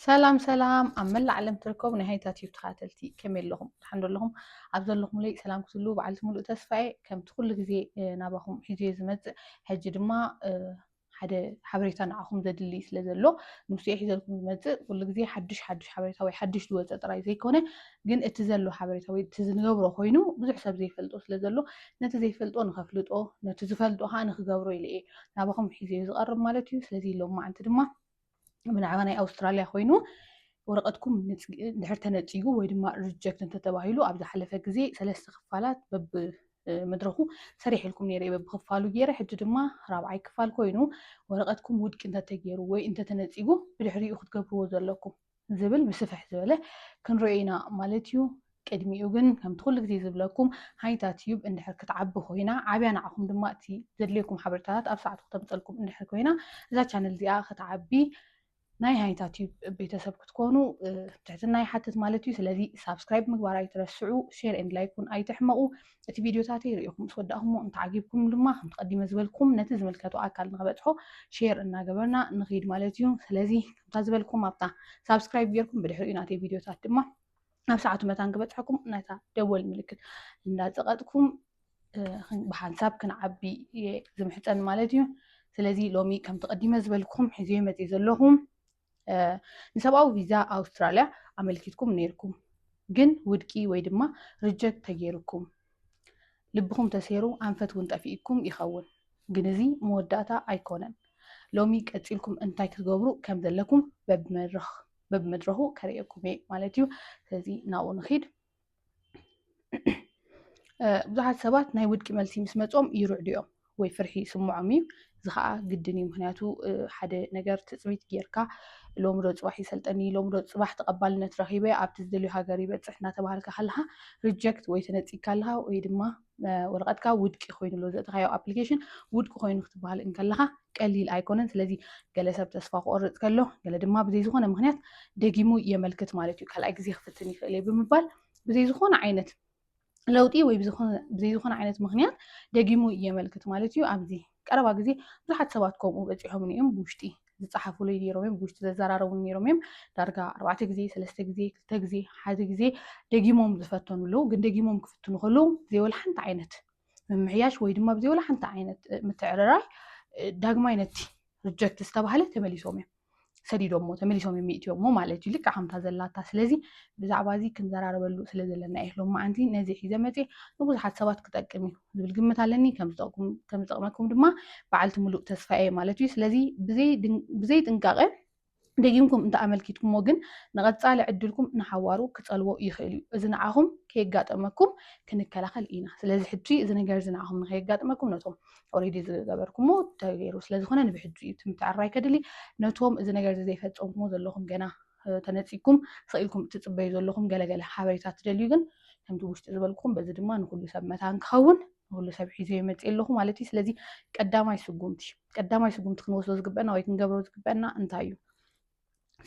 ሰላም ሰላም ኣብ መላእ ዓለም ትርከቡ ናይ ሃይታ ቲዩብ ተኸታተልቲ ከመይ ኣለኹም ድሓን ዘለኹም ኣብ ዘለኹምለይ ሰላም ክትሉ በዓልቲ ሙሉእ ተስፋ እየ ከምቲ ኩሉ ግዜ ናባኹም ሒዙ እየ ዝመፅእ ሕጂ ድማ ሓደ ሓበሬታ ንዓኹም ዘድሊ ስለ ዘሎ ንሱ እየ ሒዘልኩም ዝመፅእ ኩሉ ግዜ ሓድሽ ሓድሽ ሓበሬታ ወይ ሓድሽ ዝወፀ ጥራይ ዘይኮነ ግን እቲ ዘሎ ሓበሬታ ወይ እቲ ዝንገብሮ ኮይኑ ብዙሕ ሰብ ዘይፈልጦ ስለ ዘሎ ነቲ ዘይፈልጦ ንኸፍልጦ ነቲ ዝፈልጦ ከዓ ንክገብሮ ኢለ እየ ናባኹም ሒዘ ዝቐርብ ማለት እዩ ስለዚ ሎማዓንቲ ድማ ብናዕባ ናይ ኣውስትራልያ ኮይኑ ወረቐትኩም ድሕር ተነፂጉ ወይ ድማ ሪጀክት እንተተባሂሉ ኣብ ዝሓለፈ ግዜ ሰለስተ ክፋላት በብ መድረኹ ሰሪሕልኩም ነይረ በብክፋሉ ገይረ ሕጂ ድማ ራብዓይ ክፋል ኮይኑ ወረቐትኩም ውድቂ እንተተገይሩ ወይ እንተተነፂጉ ብድሕሪኡ ክትገብርዎ ዘለኩም ዝብል ብስፍሕ ዝበለ ክንሪኦ ኢና ማለት እዩ። ቅድሚኡ ግን ከምቲ ኩሉ ግዜ ዝብለኩም ሃይታ ትዩብ እንድሕር ክትዓቢ ኮይና ዓብያ ንዓኹም ድማ እቲ ዘድልየኩም ሓበሬታታት ኣብ ሰዓቱ ክተምፀልኩም እንድሕር ኮይና እዛ ቻነል እዚኣ ክትዓቢ ናይ ሃይታ ትዩብ ቤተሰብ ክትኮኑ ትሕትና ይሓትት ማለት እዩ። ስለዚ ሳብስክራይብ ምግባር ኣይትረስዑ፣ ሼር ኤንድ ላይክ እውን ኣይትሕመቑ። እቲ ቪዲዮታተይ ርኢኹም ምስ ወዳእኹሞ እንተዓጊብኩም ድማ ከም ተቐዲመ ዝበልኩም ነቲ ዝምልከቶ ኣካል ንክበፅሖ ሼር እናገበርና ንኺድ ማለት እዩ። ስለዚ እታ ዝበልኩም ኣብታ ሳብስክራይብ ጌርኩም ብድሕሪኡ ናተይ ቪድዮታት ድማ ኣብ ሰዓቱ መታን ክበፅሐኩም ናይታ ደወል ምልክት እንዳፀቐጥኩም ብሓንሳብ ክንዓቢ እየ ዝምሕፀን ማለት እዩ ስለዚ ሎሚ ከምቲ ቀዲመ ዝበልኩም ሒዝዮ መፅእ ዘለኹ ንሰብኣዊ ቪዛ ኣውስትራልያ ኣመልኪትኩም ነይርኩም ግን ውድቂ ወይ ድማ ሪጀክት ተገይርኩም ልብኹም ተሴሩ ኣንፈት ውን ጠፊኢኩም ይኸውን ግን እዚ መወዳእታ ኣይኮነን ሎሚ ቀጺልኩም እንታይ ክትገብሩ ከም ዘለኩም በብመድረኽ በብመድረኹ ከርእየኩም እየ ማለት እዩ ስለዚ ናብኡ ንኺድ ብዙሓት ሰባት ናይ ውድቂ መልሲ ምስ መጾም ይርዕዱ እዮም ወይ ፍርሒ ይስምዖም እዩ። እዚ ከዓ ግድን እዩ ምክንያቱ ሓደ ነገር ትፅቢት ጌርካ ሎሚ ዶ ፅባሕ ይሰልጠኒ ሎሚ ዶ ፅባሕ ተቐባልነት ረኺበ ኣብቲ ዝደልዮ ሃገር ይበፅሕ እናተባሃልካ ከለካ ሪጀክት ወይ ተነፂግካ ኣለካ ወይ ድማ ወረቐትካ ውድቂ ኮይኑ ኣሎ ዘእተኻዮ ኣፕሊኬሽን ውድቂ ኮይኑ ክትበሃል እንከለካ ቀሊል ኣይኮነን። ስለዚ ገለ ሰብ ተስፋ ክቆርፅ ከሎ ገለ ድማ ብዘይ ዝኾነ ምክንያት ደጊሙ የመልክት ማለት እዩ። ካልኣይ ግዜ ክፍትን ይኽእል እየ ብምባል ብዘይ ዝኾነ ዓይነት ለውጢ ወይ ብዘይዝኾነ ዓይነት ምክንያት ደጊሙ የመልክት ማለት እዩ። ኣብዚ ቀረባ ግዜ ብዙሓት ሰባት ከምኡ በፂሖምኒ እዮም ብውሽጢ ዝፀሓፉሉ ነይሮም እዮም ብውሽጢ ዘዘራረቡ ነይሮም እዮም ዳርጋ ኣርባዕተ ግዜ ሰለስተ ግዜ ክልተ ግዜ ሓደ ግዜ ደጊሞም ዝፈተኑ ኣለዉ ግን ደጊሞም ክፍትኑ ከለዉ ዘይወላ ሓንቲ ዓይነት ምምሕያሽ ወይ ድማ ብዘይወላ ሓንቲ ዓይነት ምትዕርራይ ዳግማይ ነቲ ሪጀክት ዝተባሃለ ተመሊሶም እዮም ሰዲዶሞ ተመሊሶም እዮም ይእትዮሞ ማለት እዩ ልክዕ ከምታ ዘላታ ስለዚ ብዛዕባ እዚ ክንዘራረበሉ ስለ ዘለና እየ ሎም መዓንቲ ነዚ ሒዘ መፅ ንብዙሓት ሰባት ክጠቅም እዩ ዝብል ግምት ኣለኒ ከምዝጠቕመኩም ድማ በዓልቲ ሙሉእ ተስፋ እየ ማለት እዩ ስለዚ ብዘይ ጥንቃቐ ደጊምኩም እንተ ኣመልኪትኩሞ ግን ንቐፃሊ ዕድልኩም ንሓዋሩ ክፀልዎ ይኽእል እዩ እዚ ንዓኹም ከየጋጠመኩም ክንከላኸል ኢና ስለዚ ሕጂ እዚ ነገር እዚ ንዓኹም ንከየጋጥመኩም ነቶም ኦልሬዲ ዝገበርኩሞ ተገይሩ ስለዝኾነ ንብሕጁ እዩ ትምትዕራይ ከድሊ ነቶም እዚ ነገር እዚ ዘይፈፀምኩሞ ዘለኹም ገና ተነፂኩም ሰኢልኩም እትፅበዩ ዘለኹም ገለገለ ሓበሬታ ትደልዩ ግን ከምቲ ውሽጢ ዝበልኩም በዚ ድማ ንኩሉ ሰብ መታን ክኸውን ንኩሉ ሰብ ሒዞ ይመፅእ ኣለኹ ማለት እዩ ስለዚ ቀዳማይ ስጉምቲ ቀዳማይ ስጉምቲ ክንወስዶ ዝግበአና ወይ ክንገብሮ ዝግበአና እንታይ እዩ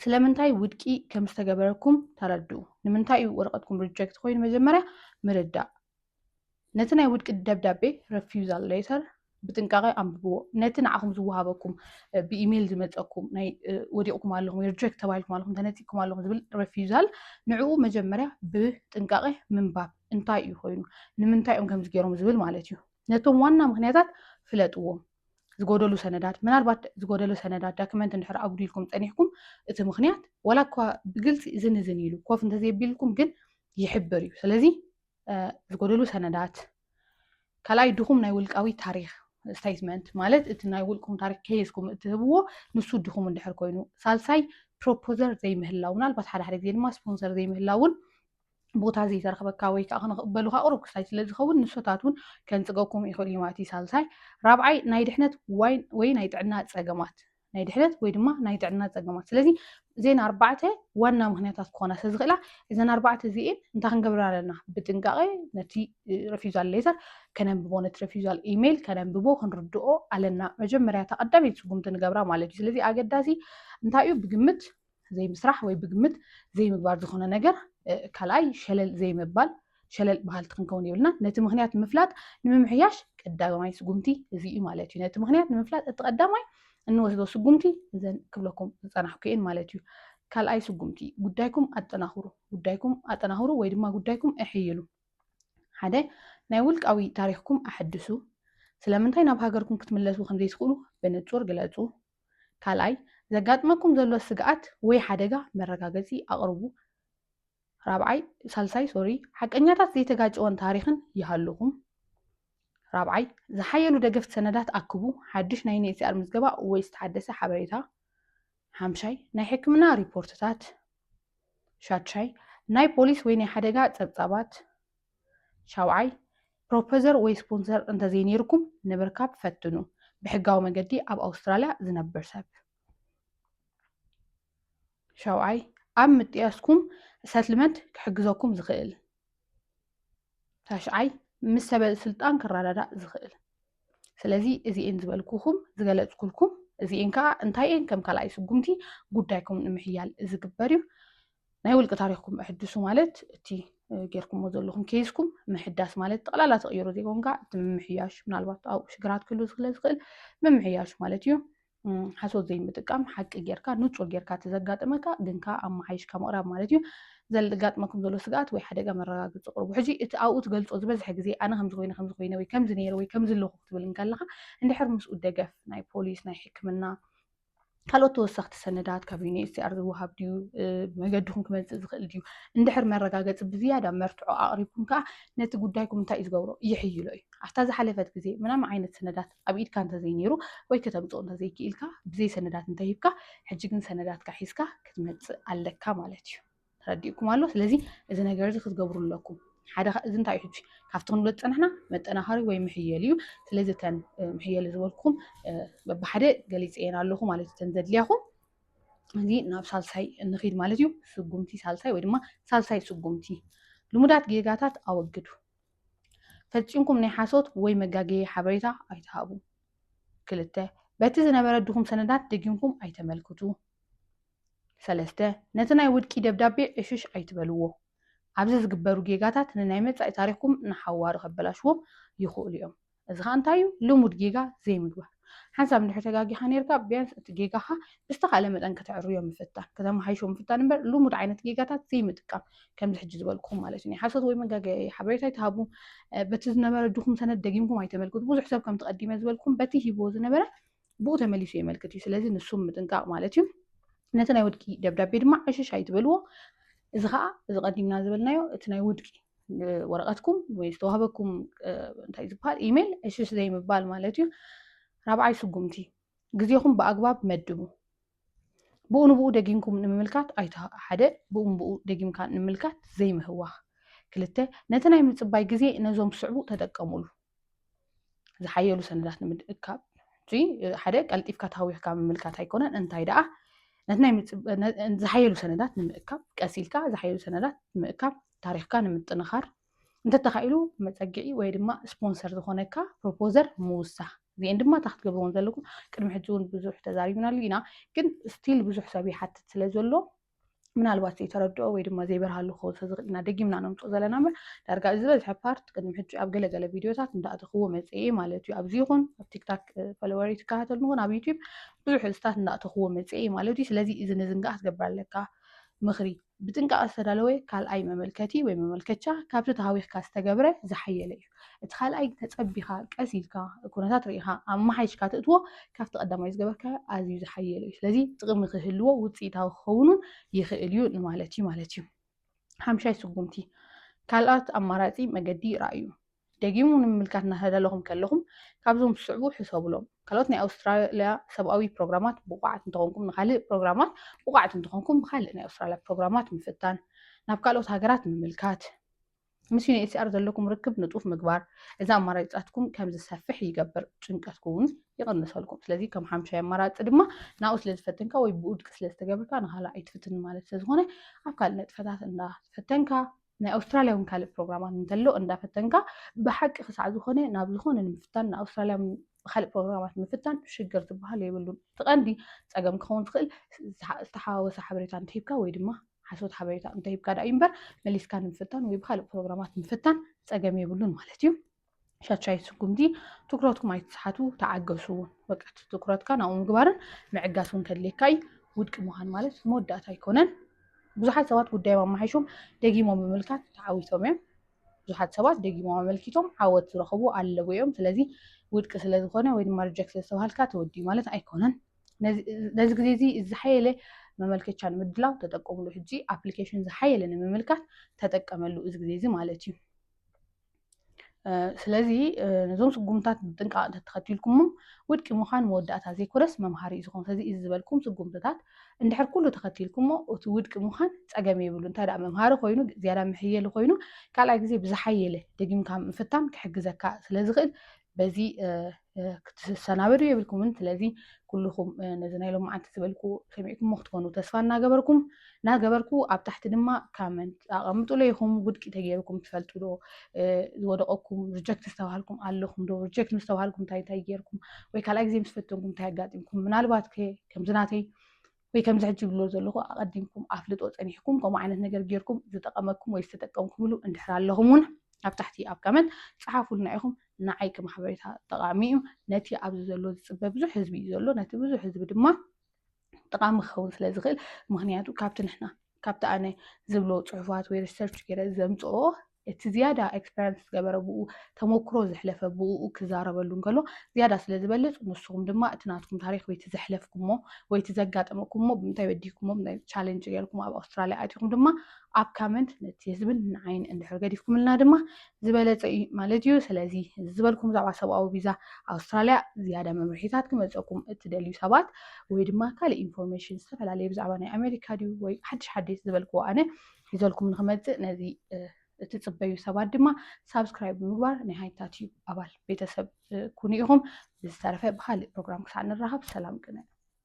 ስለምንታይ ውድቂ ከም ዝተገበረኩም ተረድኡ ንምንታይ እዩ ወረቐትኩም ሪጀክት ኮይኑ መጀመርያ ምርዳእ ነቲ ናይ ውድቂ ደብዳቤ ረፊዩዛል ሌተር ብጥንቃቐ ኣንብብዎ ነቲ ንዓኹም ዝወሃበኩም ብኢሜይል ዝመፀኩም ናይ ወዲቕኩም ኣለኹም ሪጀክት ተባሂልኩም ኣለኹም ተነፂኩም ኣለኹም ዝብል ረፊዛል ንዕኡ መጀመርያ ብጥንቃቐ ምንባብ እንታይ እዩ ኮይኑ ንምንታይ እዮም ከምዚ ገይሮም ዝብል ማለት እዩ ነቶም ዋና ምክንያታት ፍለጥዎም ዝጎደሉ ሰነዳት ምናልባት ዝጎደሉ ሰነዳት ዳክመንት እንድሕር ኣጉዲልኩም ፀኒሕኩም እቲ ምክንያት ዋላ እኳ ብግልፂ እዝን እዝን ኢሉ ኮፍ እንተዘይቢልኩም ግን ይሕብር እዩ ስለዚ ዝጎደሉ ሰነዳት፣ ካልኣይ ድኹም ናይ ውልቃዊ ታሪክ ስቴትመንት ማለት እቲ ናይ ውልቁም ታሪክ ከይዝኩም እትህብዎ ንሱ ድኹም እንድሕር ኮይኑ፣ ሳልሳይ ፕሮፖዘር ዘይምህላው ምናልባት ሓደ ሓደ ግዜ ድማ ስፖንሰር ዘይምህላውን ቦታ ዘይተረክበካ ወይ ከዓ ክንቕበሉካ ቅሩብ ክሳይ ስለ ዝኸውን ንሶታት እውን ከንፅገኩም ይኽእል እዩ ማለት እዩ ሳልሳይ ራብዓይ ናይ ድሕነት ወይ ናይ ጥዕና ፀገማት ናይ ድሕነት ወይ ድማ ናይ ጥዕና ፀገማት ስለዚ እዘን ኣርባዕተ ዋና ምክንያታት ክኾና ስለዝኽእላ እዘን ኣርባዕተ እዚኤን እንታይ ክንገብር ኣለና ብጥንቃቐ ነቲ ረፊዛል ሌተር ከነንብቦ ነቲ ረፊዛል ኢሜይል ከነንብቦ ክንርድኦ ኣለና መጀመርያ ተቐዳሚት ስጉምቲ ንገብራ ማለት እዩ ስለዚ ኣገዳሲ እንታይ እዩ ብግምት ዘይምስራሕ ወይ ብግምት ዘይምግባር ዝኾነ ነገር ካልኣይ ሸለል ዘይምባል ሸለል ባህልቲ ክንከውን የብልና ነቲ ምክንያት ምፍላጥ ንምምሕያሽ ቀዳማይ ስጉምቲ እዚ እዩ ማለት እዩ ነቲ ምክንያት ንምፍላጥ እቲ ቀዳማይ እንወስዶ ስጉምቲ እዘን ክብለኩም ዝፀናሕኩ እየን ማለት እዩ ካልኣይ ስጉምቲ ጉዳይኩም ኣጠናኽሩ ጉዳይኩም ኣጠናኽሩ ወይ ድማ ጉዳይኩም እሕይሉ ሓደ ናይ ውልቃዊ ታሪኽኩም ኣሐድሱ ስለምንታይ ናብ ሃገርኩም ክትምለሱ ከምዘይትኽእሉ ብንፁር ግለፁ ካልኣይ ዘጋጥመኩም ዘሎ ስግኣት ወይ ሓደጋ መረጋገጺ ኣቕርቡ ራብዓይ ሳልሳይ ሶሪ ሓቀኛታት ዘይተጋጨወን ታሪኽን ይሃሉኹም ራብዓይ ዝሓየሉ ደገፍቲ ሰነዳት ኣክቡ ሓድሽ ናይ ዩኤንኤችሲኣር ምዝገባ ወይ ዝተሓደሰ ሓበሬታ ሓምሻይ ናይ ሕክምና ሪፖርትታት ሻድሻይ ናይ ፖሊስ ወይ ናይ ሓደጋ ጸብጻባት ሻውዓይ፣ ፕሮፐዘር ወይ ስፖንሰር እንተዘይነይርኩም ንምርካብ ፈትኑ፣ ብሕጋዊ መገዲ ኣብ ኣውስትራልያ ዝነብር ሰብ። ሻውዓይ፣ ኣብ ምጥያስኩም ሰትልመንት ክሕግዘኩም ዝኽእል። ታሽዓይ፣ ምስ ሰበ ስልጣን ክረዳዳእ ዝኽእል። ስለዚ እዚኤን ዝበልኩኹም ዝገለፅኩልኩም እዚኤን ከዓ እንታይ እየን ከም ካልኣይ ስጉምቲ ጉዳይኩም ንምሕያል ዝግበር እዩ። ናይ ውልቂ ታሪኽኩም እሕድሱ ማለት እቲ ጌርኩሞ ዘለኹም ኬዝኩም ምሕዳስ ማለት ጠቕላላ ተቕይሮ ዘይኮንካ እቲ ምምሕያሽ ምናልባት ኣብኡ ሽግራት ክህሉ ስለ ዝኽእል ምምሕያሽ ማለት እዩ ሓሶት ዘይምጥቃም ሓቂ ጌርካ ንፁር ጌርካ እቲ ዘጋጥመካ ግንካ ኣመሓይሽካ ምቕራብ ማለት እዩ ዘጋጥመኩም ዘሎ ስግኣት ወይ ሓደጋ መረጋገፂ ቅርቡ ሕጂ እቲ ኣብኡ ትገልፆ ዝበዝሐ ግዜ ኣነ ከምዚ ኮይነ ከምዚ ኮይነ ወይ ከምዚ ነይረ ወይ ከምዚ ኣለኹ ክትብል እንከለካ እንድሕር ምስኡ ደገፍ ናይ ፖሊስ ናይ ሕክምና ካልኦት ተወሰኽቲ ሰነዳት ካብ ዩኒኤችሲኣር ዝወሃብ ድዩ መገድኹም ክመፅእ ዝኽእል ድዩ እንድሕር መረጋገፂ ብዝያዳ መርትዖ ኣቕሪብኩም ከዓ ነቲ ጉዳይኩም እንታይ እዩ ዝገብሮ ይሕይሎ እዩ ኣብታ ዝሓለፈት ግዜ ምናም ዓይነት ሰነዳት ኣብ ኢድካ እንተዘይነይሩ ወይ ከተምፅኦ እንተዘይክኢልካ ብዘይ ሰነዳት እንተሂብካ ሕጂ ግን ሰነዳትካ ሒዝካ ክትመፅእ ኣለካ ማለት እዩ ተረዲኡኩም ኣሎ ስለዚ እዚ ነገር እዚ ክትገብሩ ኣለኩም ሓደ እዚ እንታይ እዩ ካብቲ ክንብሎ ዝፀናሕና መጠናኸሪ ወይ ምሕየል እዩ ስለዚ እተን ምሕየል ዝበልኩም በብሓደ ገሊፀየን ኣለኹ ማለት እዩ እተን ዘድልያኹም እዚ ናብ ሳልሳይ እንኺድ ማለት እዩ ስጉምቲ ሳልሳይ ወይ ድማ ሳልሳይ ስጉምቲ ልሙዳት ጌጋታት ኣወግዱ ፈፂምኩም ናይ ሓሶት ወይ መጋገየ ሓበሬታ ኣይትሃቡ ክልተ በቲ ዝነበረ ድኹም ሰነዳት ደጊምኩም ኣይተመልክቱ ሰለስተ፣ ነቲ ናይ ውድቂ ደብዳቤ ዕሽሽ ኣይትበልዎ። ኣብዚ ዝግበሩ ጌጋታት ንናይ መጻኢ ታሪኽኩም ንሓዋሩ ከበላሽዎም ይኽእሉ እዮም። እዚ ኸኣ እንታይ እዩ? ልሙድ ጌጋ ዘይምግባር። ሓንሳብ እንድሕር ተጋጊኻ ኔርካ፣ ቢያንስ እቲ ጌጋኻ ብዝተኻእለ መጠን ከተዕርዮ ምፍታን፣ ከተመሓይሾ ምፍታን እምበር ልሙድ ዓይነት ጌጋታት ዘይምጥቃም። ከምዚ ሕጂ ዝበልኩኹም ማለት እዩ። ናይ ሓሶት ወይ መጋገዪ ሓበሬታ ኣይትሃቡ። በቲ ዝነበረ ድኹም ሰነድ ደጊምኩም ኣይተመልክቱ። ብዙሕ ሰብ ከምቲ ቀዲመ ዝበልኩኹም በቲ ሂብዎ ዝነበረ ብኡ ተመሊሱ የመልክት እዩ ስለዚ ንሱም ምጥንቃቕ ማለት እዩ ነቲ ናይ ውድቂ ደብዳቤ ድማ ዕሽሽ ኣይትበልዎ እዚ ከዓ እዚ ቀዲምና ዝበልናዮ እቲ ናይ ውድቂ ወረቐትኩም ወይ ዝተዋህበኩም እንታይ ዝበሃል ኢሜይል ዕሽሽ ዘይምባል ማለት እዩ ራብዓይ ስጉምቲ ግዜኹም ብኣግባብ መድቡ ብኡ ንብኡ ደጊምኩም ንምምልካት ኣይተ ሓደ ብኡ ንብኡ ደጊምካ ንምልካት ዘይምህዋኽ ክልተ ነቲ ናይ ምጽባይ ግዜ ነዞም ዝስዕቡ ተጠቀሙሉ ዝሓየሉ ሰነዳት ንምድእካብ እቲ ሓደ ቀልጢፍካ ታዊኽካ ምምልካት ኣይኮነን እንታይ ደኣ ነቲ ናይ ዝሓየሉ ሰነዳት ንምእካብ ቀሲልካ ዝሓየሉ ሰነዳት ንምእካብ ታሪኽካ ንምጥንኻር እንተተኻኢሉ መፀግዒ ወይ ድማ ስፖንሰር ዝኾነካ ፕሮፖዘር ምውሳኽ እዚኤን ድማ እታ ክትገብርዎን ዘለኩም ቅድሚ ሕጂ እውን ብዙሕ ተዛሪብናሉ ኢና ግን ስቲል ብዙሕ ሰብ ይሓትት ስለ ዘሎ ምናልባት ዘይተረድኦ ወይ ድማ ዘይበርሃሉ ክኸውን ስለ ዝኽእል ኢና ደጊምና ነምፅኦ ዘለና እምበር ዳርጋ እዚ ዝበዝሐ ፓርት ቅድሚ ሕጂ ኣብ ገለገለ ቪድዮታት እንዳእተኽዎ መፅኤ ማለት እዩ ኣብዚ ይኹን ኣብ ቲክታክ ፈለወሪ ትከታተሉ ንኹን ኣብ ዩቲብ ብዙሕ ህዝታት እንዳእተኽዎ መፅኤ ማለት እዩ ስለዚ እዚ ንዝንጋዕ ክትገብር ኣለካ ምኽሪ ብጥንቃቐ ዝተዳለወ ካልኣይ መመልከቲ ወይ መመልከቻ ካብቲ ተሃዊኽካ ዝተገብረ ዝሓየለ እዩ። እቲ ካልኣይ ተጸቢኻ ቀስ ኢልካ ኩነታት ርኢኻ ኣመሓይሽካ ትእትዎ ካብቲ ቀዳማይ ዝገበርካዮ ኣዝዩ ዝሓየለ እዩ። ስለዚ ጥቕሚ ክህልዎ ውጽኢታዊ ክኸውንን ይኽእል እዩ ንማለት እዩ ማለት እዩ። ሓምሻይ ስጉምቲ ካልኣት ኣማራጺ መገዲ ርኣዩ። ደጊሙ ንምምልካት እናተዳለኹም ከለኹም ካብዞም ዝስዕቡ ሕሰቡሎም። ካልኦት ናይ ኣውስትራልያ ሰብኣዊ ፕሮግራማት ብቑዓት እንተኾንኩም ንካልእ ፕሮግራማት ብቑዓት እንተኾንኩም ብካልእ ናይ ኣውስትራልያ ፕሮግራማት ምፍታን። ናብ ካልኦት ሃገራት ምምልካት። ምስ ዩንኤችሲኣር ዘለኩም ርክብ ንጡፍ ምግባር እዚ ኣማራጭታትኩም ከም ዝሰፍሕ ይገብር፣ ጭንቀትኩም እውን ይቕንሰልኩም። ስለዚ ከም ሓምሻይ ኣማራጺ ድማ ናብኡ ስለ ዝፈተንካ ወይ ብውድቂ ስለ ዝተገብርካ ንኻልእ ኣይትፍትን ማለት ስለ ዝኾነ ኣብ ካልእ ነጥፈታት እንዳፈተንካ ናይ ኣውስትራልያ እውን ካልእ ፕሮግራማት እንተሎ እንዳፈተንካ ብሓቂ ክሳዕ ዝኾነ ናብ ዝኾነ ንምፍታን ንኣውስትራልያ ካልእ ፕሮግራማት ምፍታን ሽግር ዝበሃል የብሉን። እቲ ቀንዲ ጸገም ክኸውን ዝኽእል ዝተሓዋወሰ ሓበሬታ እንተሂብካ ወይ ድማ ሓሶት ሓበሬታ እንተሂብካ ድኣ እዩ እምበር መሊስካ ንምፍታን ወይ ብካልእ ፕሮግራማት ምፍታን ጸገም የብሉን ማለት እዩ። ሻቻይ ስጉምቲ ትኩረትኩም ኣይትስሓቱ ተዓገሱ እውን በቃ ትኩረትካ ናብኡ ምግባርን ምዕጋስ እውን ከድልየካ እዩ ውድቂ ምዃን ማለት መወዳእታ ኣይኮነን ብዙሓት ሰባት ጉዳዮም ኣመሓይሾም ደጊሞም ብምልካት ተዓዊቶም እዮም ብዙሓት ሰባት ደጊሞም ኣመልኪቶም ዓወት ዝረኸቡ ኣለዉ እዮም ስለዚ ውድቂ ስለዝኾነ ወይ ድማ ሪጀክት ስለዝተባሃልካ ተወዲዩ ማለት ኣይኮነን ነዚ ግዜ እዚ ዝሓየለ መመልከቻ ንምድላው ተጠቀምሉ ሕጂ ኣፕሊኬሽን ዝሓየለ ንምምልካት ተጠቀመሉ እዚ ግዜ እዚ ማለት እዩ ስለዚ ነዞም ስጉምታት ብጥንቃቕ እንተተኸቲልኩሞም ውድቂ ምዃን መወዳእታ ዘይኮነስ መምሃሪ እዩ ዝኾን ስለዚ እዚ ዝበልኩም ስጉምትታት እንድሕር ኩሉ ተኸቲልኩሞ እቲ ውድቂ ምዃን ፀገም የብሉ እንታይ ደኣ መምሃሪ ኮይኑ ዝያዳ መሕየሊ ኮይኑ ካልኣይ ግዜ ብዝሓየለ ደጊምካ ምፍታን ክሕግዘካ ስለዝኽእል በዚ ክትሰናበዱ የብልኩምን ስለዚ ኩልኹም ነዚ ናይ ሎማዓንቲ ዝበልኩ ሰሚዕኩሞ ክትኮኑ ተስፋ እናገበርኩም እናገበርኩ ኣብ ታሕቲ ድማ ካመንት ኣቐምጡሎ ኢኹም ውድቂ ተገይርኩም ትፈልጡ ዶ ዝወደቐኩም ሪጀክት ዝተባሃልኩም ኣለኹም ዶ ሪጀክት ምስ ተባሃልኩም እንታይ እንታይ ገይርኩም ወይ ካልኣይ ግዜ ምስ ፈተንኩም እንታይ ኣጋጢምኩም ምናልባት ከምዚ ናተይ ወይ ከምዚ ሕጂ ዝብሎ ዘለኹ ኣቐዲምኩም ኣፍልጦ ጸኒሕኩም ከምኡ ዓይነት ነገር ጌርኩም ዝጠቐመኩም ወይ ዝተጠቀምኩምሉ እንድሕር ኣለኹም እውን ኣብ ታሕቲ ኣብ ካመንት ጸሓፉልና ኢኹም ንዓይ ከም ሓበሬታ ጠቓሚ እዩ ነቲ ኣብዚ ዘሎ ዝጽበ ብዙሕ ህዝቢ እዩ ዘሎ ነቲ ብዙሕ ህዝቢ ድማ ጠቓሚ ክኸውን ስለ ዝኽእል ምክንያቱ ካብቲ ንሕና ካብቲ ኣነ ዝብሎ ጽሑፋት ወይ ሪሰርች ገይረ ዘምጽኦ እቲ ዝያዳ ኤክስፐርያንስ ዝገበረ ብኡ ተሞክሮ ዘሕለፈ ብኡኡ ክዛረበሉ እንከሎ ዝያዳ ስለ ዝበልጽ ንስኹም ድማ እቲ ናትኩም ታሪኽ ወይ እቲ ዘሕለፍኩሞ ወይ እቲ ዘጋጠመኩሞ ብምንታይ በዲህኩሞ ብምንታይ ቻለንጅ ገይርኩም ኣብ ኣውስትራልያ ኣቲኹም ድማ ኣብ ካመንት ነቲ ህዝብን ንዓይን እንድሕር ገዲፍኩምልና ድማ ዝበለጸ እዩ ማለት እዩ። ስለዚ እዚ ዝበልኩም ብዛዕባ ሰብኣዊ ቪዛ ኣውስትራልያ ዝያዳ መምርሒታት ክመጸኩም እትደልዩ ሰባት ወይ ድማ ካልእ ኢንፎርሜሽን ዝተፈላለየ ብዛዕባ ናይ ኣሜሪካ ድዩ ወይ ሓድሽ ሓዲስ ዝበልክዎ ኣነ ሒዘልኩም ንክመፅእ ነዚ እትፅበዩ ሰባት ድማ ሳብስክራይብ ብምግባር ናይ ሃይታ ቲዩብ ኣባል ቤተሰብ ኩኑ ኢኹም። ብዝተረፈ ብካሊእ ፕሮግራም ክሳዕ ንራኸብ ሰላም ቅነ።